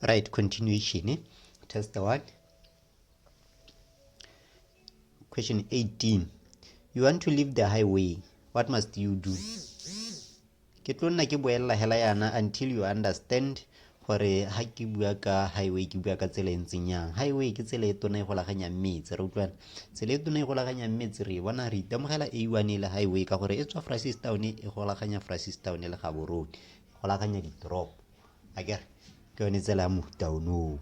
right continuation eh? test the one question 18 you want to leave the highway what must you do ke tlo nna ke boelela hela yana until you understand gore ha ke bua ka highway ke bua ka tsela e ntseng yang highway ke tsela e tona e golaganyang metse re utlwana tsela e tona e golaganyang metse re bona re itemogela a one e le highway ka gore e tswa fracistown e golaganya fracistown le gaborone go lakanya ditoropo a kere ke yone tsela ya mofuta onoo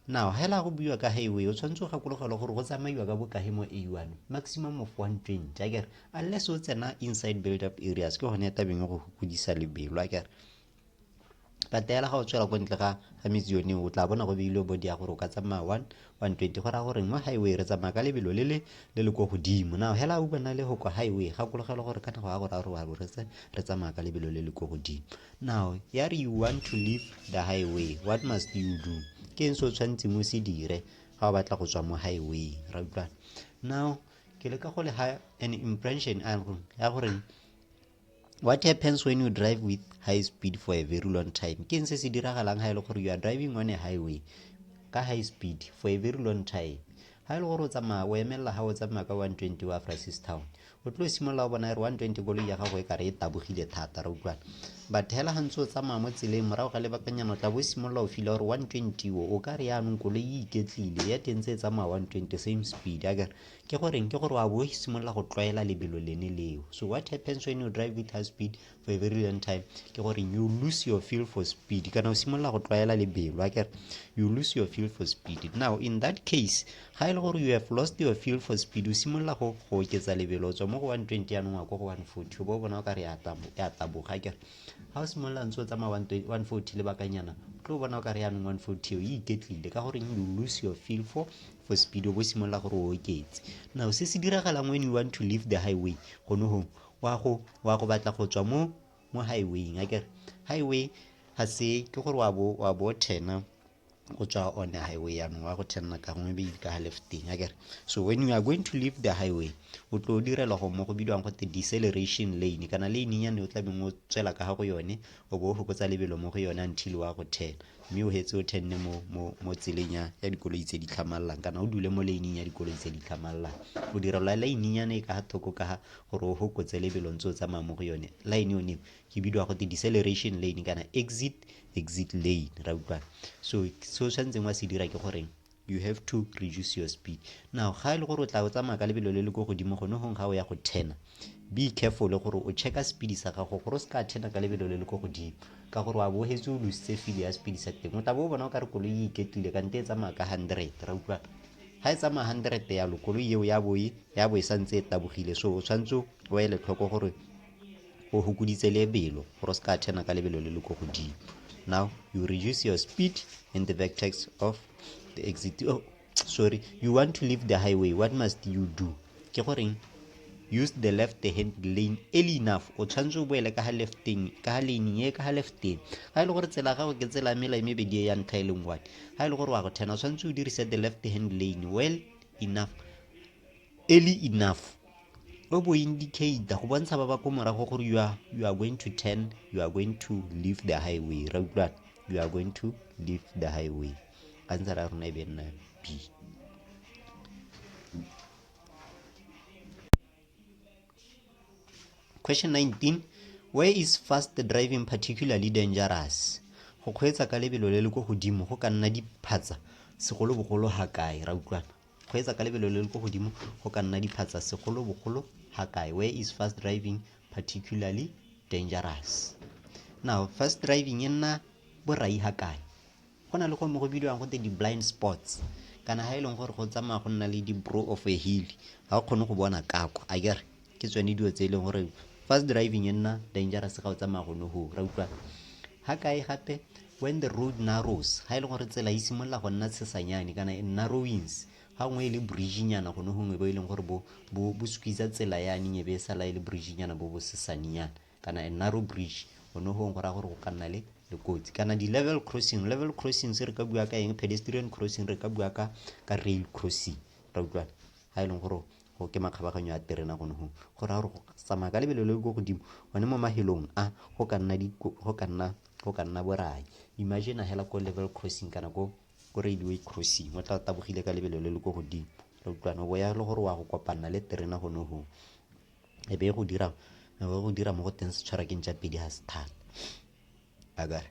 now ga ela go buiwa ka highway o tshwanetse o gakologelwa gore go tsamaiwa ka bokae mo a one maximum of one twenty a kere unless o tsena inside build up areas ke gone ya tabeng go godisa lebelo a kere patela ga o tswela ko ntle ga ga metsi yone o tla bona go beilwe body ya gore o ka tsamaya one 120 go raya gore mo highway re tsamaya ka lebelo le le le le ko godimo now hela uba na le go kwa highway gakologelo gore ka nako ya gore a re wa bo retse re tsamaya ka lebelo le le ko godimo now ya re you want to leave the highway what must you do ke eng se o tshwanetseng o se dire ga o batla go tswa mo highway ra utlwana now ke leka go le ha an impression ya goreng what happens when you drive with high speed for a very long time ke se se diragalang ga e le gore you are driving on a highway ka high speed for a very long time ga e le gore o tsamaya o emelela ga o tsamaya ka 120 wa francis town o tlo simolola o bona re 120 koloi ya gago e kare e tabogile thata re utlwana but hela ga ntse o tsamaya mo tseleng morago ga lebakanyana o tla bo o simolola o fila gore 120 o o ka re yaanong koloi e iketlile ya teng tse e tsamaya 120 same speed a kere ke goreng ke gore wa bo simolola go tlwaela lebelo lene leo so what happens when you drive with high speed for a very long time ke gore you lose your feel for speed kana o simolola go tlwaela lebelo akere you lose your feel for speed now in that case ga e le gore you have lost your feel for speed o simolola go go oketsa lebelo o tswa mo go 120 yanong wa ko go 140 o bo bona o ka re ya taboga akere ga o simolola ntse o tsamaya 140 lebakanyana tlo bona o ka re yanong 140 o e iketlile ka goreng you lose your feel for for speed o bo simolola gore o oketse now se se diragalang when you want to leave the highway gone go wa go wa go batla go tswa mo mo highwayng a kere highway ga se ke gore wa bo wa bo thena go tswa on the highway yaanong wa go thenna ka gongwe be ka ga lefteng a kere so when you are going to leave the highway o tlo o direla go mo go bidiwang gote deceleration lane kana lane yane o tla beng o tswela ka ga go yone o bo o fokotsa lebelo mo go yone until wa go thena mme o hetse o tenne mo tseleng ya dikoloi tse di tlhamalelang kana o dule mo lane-ing ya dikoloi tse di tlhamalelang o dira la lane-nyana e ka ga thoko ka ga gore o gokotse lebelo ntse o tsamaya mo go yone line one ke bidiwa go te deceleration lane kana exit exit lane ra utlwana so se o tshwanetseng wa se dira ke goreng you have to reduce your speed now ga e le gore o tla o tsamaya ka lebelo le le ko godimo gone gong ga o ya go thena be careful gore o checka speed sa gago gore o se ka thena ka lebelo le le ko godimo ka gore wa bohetse o lositse file ya speed sa teng o tla bo o bona o ka re koloi e iketlile kante e tsamaya ka hundred ra utlwa ga e tsamaya hundred yalo koloi eo ya boe ya bo e santse e tabogile so o tshwanetse o ele tlhoko gore o fokoditse lebelo gore o se ka turner ka lebelo le le ko godimo now you reduce your speed in the vertex of the exit oh, sorry you want to leave the highway what must you do ke goreng use the left hand lane early enough o tshwanetse o boele ka ga lefteng ka ga lane ye ka ga lefteng ga e le gore tsela gago ke tsela mela e mebedi e ya ntlha e leng one ga e le gore wa go thena o tshwanetse o dirise the left hand lane well enough early enough o bo indicate go bontsha ba ba ko morago gore you are, you are going to turn you are going to leave the highway ra utlwana you are going to leave the highway ka ntse ra rona e be nna b question 19 where is fast driving particularly dangerous go kgweetsa ka lebelo le le ko godimo go ka nna diphatsa segolobogolo ga kae ra utlwana Kgweetsa ka lebelo le le ko godimo go ka nna diphatsa segolobogolo ga kae. Where is fast driving particularly dangerous? Now, fast driving e nna borai ga kae? Go na le go mo go bidiwang go te di-blind spots kana ga e leng gore go tsamaya go nna le di-brow of a hill ga o kgone go bona kako a kere ke tsone dilo tse e leng gore fast driving e nna dangerous ga o tsamaya go ne go ra utlwa ga kae gape when the road narrows ga e leng gore tsela e simolola go nna tshesanyane kana e narrowings ga nngwe e le bridgenyana gone gongwe bo e leng gore bo squeeza tsela yane nyebe e sala e le bridgenyana bo bo sesanyana kana a narrow bridge gone gongwe go raya gore go ka nna le le kotsi kana di-level crossing level crossing se re ka bua ka eng pedestrian crossing re ka bua ka ka rail crossing ra utlwana ga e leng gore go ke makgabaganyo a terena gone gongwe go raya gore go tsamaya ka lebelo le le ko godimo gone mo mahelong a go ka nna go ka nna go ka nna borai imagine hela ko level crossing kana ko ko railway crossing o tla tabogile ka lebelo le le ko godimo re utlwana o ya le gore wa go kopanna le terena gone gongwe e be go dira e be go dira mo go teng setshwarakeng tsa pedi ga se thata akare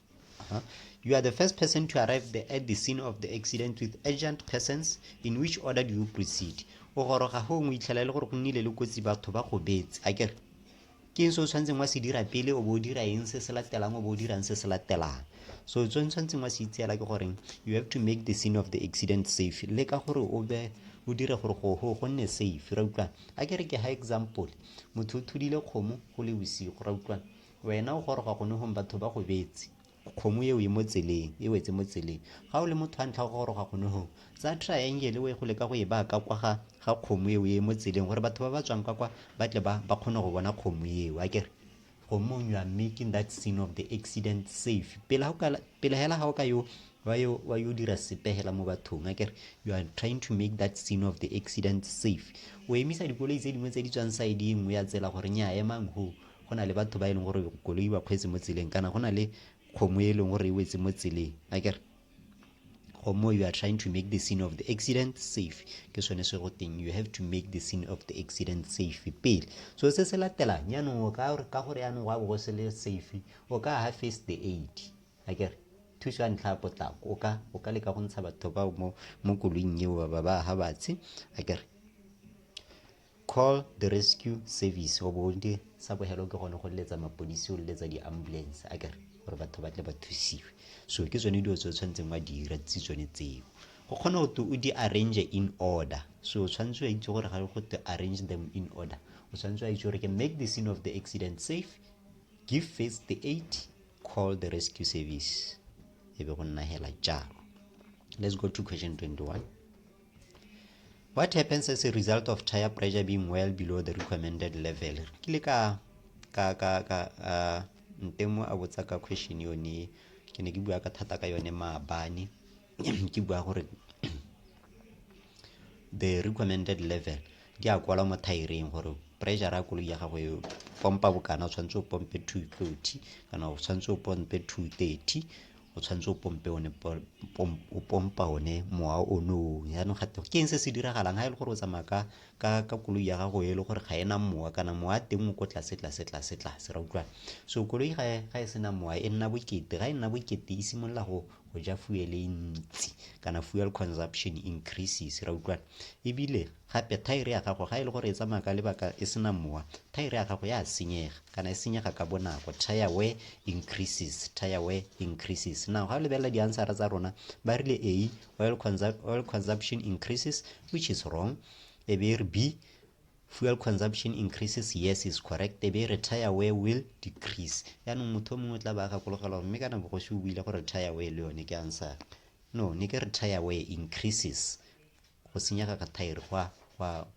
Uh -huh. You are the first person to arrive the, at the scene of the accident with urgent persons. In which order do you proceed? O goroga ho ngwe itlhela le gore go nnile le kotsi batho ba go betse. A ke ke eng se o tshwanetseng wa se dira pele o bo o dira eng se se latelang o bo o dirang se se latelang so tse tshwanetseng wa se itseela ke goreng you have to make the scene of the accident safe le ka gore o be o dire gore go go go nne safe ra utlwana a ke re ke ha example motho o thudile kgomo go le bosigo ra utlwana Wena o goroga gone gong batho ba go betse. Kgomo eo e mo tseleng, e wetse mo tseleng. Ga o le motho wa ntlha go goroga gone gong, tsa triangle o ye go leka go e baka kwa ga ga kgomo eo e mo tseleng gore batho ba ba tswang ka kwa ba tle ba ba kgone go bona kgomo eo a kere gomong you are making that scene of the accident safe pele hela ga o ka yo wa yo wa yo dira sepegela mo bathong a kere you are trying to make that scene of the accident safe o emisa dikoloi tse dingwe tse di tswang side e nngwe ya tsela gore nya emang ho go na le batho ba e leng gore koloi ba kgweetse mo tseleng kana go na le kgomo e leng gore e wetse mo tseleng a kere gomo you are trying to make the scene of the accident safe ke sone se go teng you have to make the scene of the accident safe pele so se se latelang yaanong o ka ka gore yaanong wa bo se le safe o ka ha first the aid a kere thuso ya ntlha ya potlako o ka o ka leka go ntsha batho bao mo mo koloing eo ba ba ha batshe a kere Call the rescue service wa bonke sa bohelo ke gone go letsa mapodisi o letsa di-ambulance a kere gore batho ba tle ba thusiwe so ke tsone dilo tse o tshwanetseng wa dira tse tsone tseo go kgona go te o di arrange in order so o tshwanetse wa itse gore ga go te arrange them in order o tshwanetse wa itse gore ke make the scene of the accident safe give first the aid call the rescue service e be go nna hela jalo let's go to question 21 What happens as a result of tire pressure being well below the recommended level? Re kile ka ka ka ka uh, ntemo a botsa ka question yone ke ne ke bua ka thata ka yone maabane ke bua gore the recommended level di a kwala mo thaereng gore pressure ya koloi ya gago e pompa bokana o tshwanetse o pompe 230 kana o tshwanetse o pompe 230 o tshwanetse o pompe one o pompa one mowa o noo jaanong gate ke eng se se diragalang ga e le gore o tsamaya ka ka ka koloi ya gago e le gore ga ena mowa kana mowa a teng o ko tlase tlase tlase tlase ra utlwana so koloi ga ga e sena mowa e nna bokete ga e nna bokete e simolola go go ja fuel e ntsi kana fuel consumption increases ra utlwana ebile Gape, thaere ya gago, ga e le gore e tsamaya ka lebaka e sena mowa, thaere ya gago ya senyega, kana e senyega ka bonako. Tire wear increases, tire wear increases. Now, ga o lebelela diansara tsa rona, ba rile A, oil, consu oil consumption increases, which is wrong. E be e re B, fuel consumption increases, yes is correct. E be e re tire wear will decrease. Yaanong motho o mongwe o tla ba a gakologela gore mme kana bogosi o buile gore tire wear le yone ke ansara. No, ne ke re tire wear increases. go senyega ga thaere gwa gwa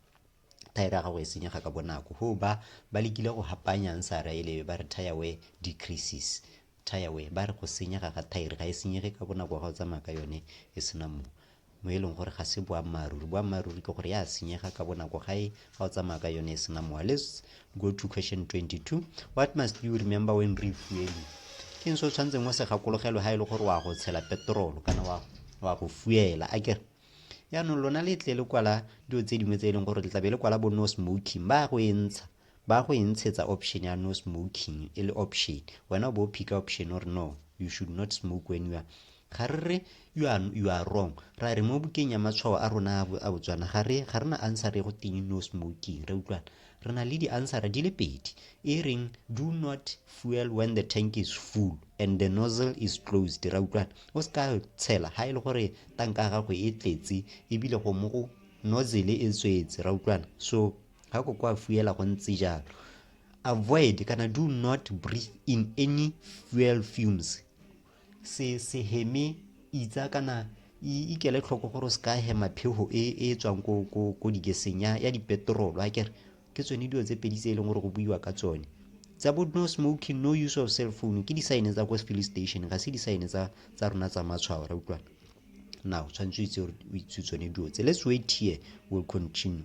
thaere ya gago e senyega ka bonako go ba ba lekile go hapanyang sa raelebe ba re tire wear decreases tire wear ba re go senyega ga thaere ga e senyege ka bonako ga o tsamaya ka yone e sena mo mo e leng gore ga se boammaaruri boammaaruri ke gore ya senyega ka bonako ga e ga o tsamaya ka yone e sena mowa let's go to question 22 what must you remember when refueling ke eng se o tshwanetseng o se gakologelwe ga e le gore wa go tshela petrolo kana wa go fuela a kere yaanong lona le tle le kwala dilo tse dingwe tse e leng gore le tlabe le kwala bo no smoking ba go e ntsha ba go e ntshetsa option ya no smoking e le option wena o bo o phika option o re no you should not smoke when you are Ga re re you are, you are wrong. Ra re mo bukeng ya matshwao a rona a bo- a Botswana ga re ga re na answer e go teng no smoking. Re utlwana. Re na le di answer di le pedi. E reng do not fuel when the tank is full and the nozzle is closed. Ra utlwana. O se ka tshela ha e le gore tanka ya gago e tletse ebile go mo go nozzle e tswetse. Ra utlwana. So ga ko kwa fuela go ntse jalo. Avoid kana do not breathe in any fuel fumes se se heme itsa kana ikele tlhoko gore o se ka hema phego e e tswang ko ko ko digeseng ya ya dipetrolo a kere ke tsone dilo tse pedi tse e leng gore go buiwa ka tsone tsa bo no smoking no use of cell phone ke disaene tsa ko filling station ga se disaene tsa tsa rona tsa matshwao ra utlwana now tshwanetse o itse o itse tsone dilo tse let's wait here will continue